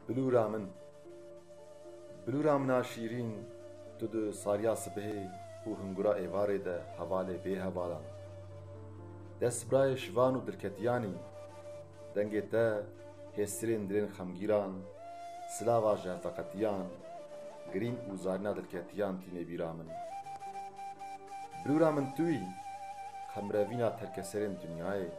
Bilûra min, bilûra min a şîrîn, tu di sariya sibehê û hingura êvarê de hevalê bê hevalan, destbirayê şivan û dirketiyan î, dengê te hêstirên dilên xemgîran, silava ji hevveqetiyan, girîn û zarîna dilketiyan tînê bîra min. Bilûra min tu î, qemirevîna terkeserên dinyayê.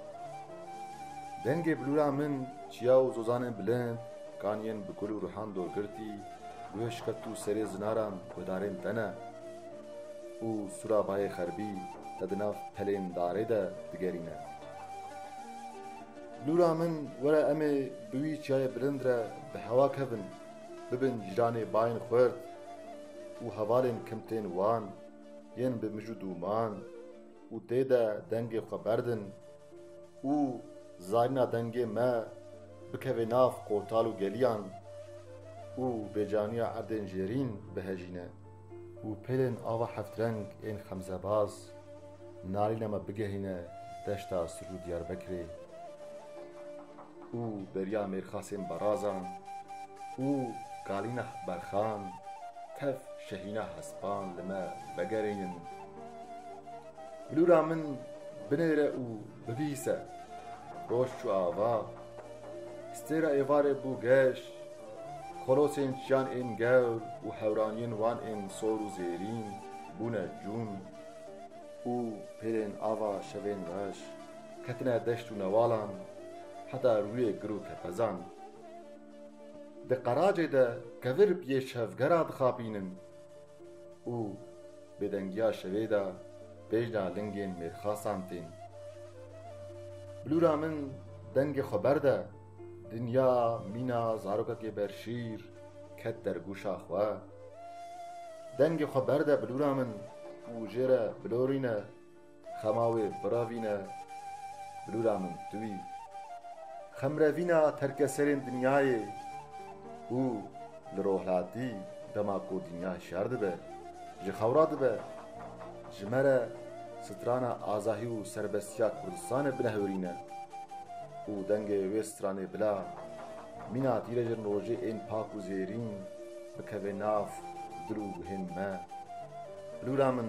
Dengê bilûra min çiya û zozanên bilind kaniyên bi gul û rihan dor girtî guhê şikeft û serê zinaran guhdarên te ne û sûra bayê xerbî te di nav pelên darê de digerîne. Bilûra min were em ê bi wî çiyayê bilind re bi hewa kevin bibin cîranê bayên xurt û hevalên kimtên wan yên bi mij û dûman û tê de dengê xwe berdin, Û zarîna dengê me bikeve nav qotal û geliyan û bêcaniya erdên jêrîn bihejîne û pêlên ava heftreng ên xemzebaz nalîna me bigehîne deşta Sir û Diyarbekirê û beriya mêrxasên Barazan û kalîna Berxan tev şehîna hespan li me vegerînin. Lûra min binêre û bibîse. Roj çû ava. Stêra êvarê bû geş. Xolosên çiyan ên gewr û hewraniyên wan ên sor û zêrîn bûne cûn û pêrên ava şevên reş ketine deşt û newalan heta rûyê gir û kepezan. Di qeracê de kevir bi yê şevgera dixapînin. Û bêdengiya şevê de bejna lingên mêrxasan tên. Bilûra min dengê xwe berde, dinya mîna zarokekê berşîr ket der gûşa xwe. Dengê xwe berde bilûra min û jê re bilorîne. Xema wê biravîne bilûra min tu wî. Xemrevîna terkeserên dinyayê û li rohlatî dema ku dinya şer dibe, ji xewra dibe, ji me re strana azahî û serbestiya Kurdistanê binehurîne û dengê wê stranê bila mîna tîrejin rojê ên pak û zêrîn bikeve nav dil û guhên me. Bilûra min.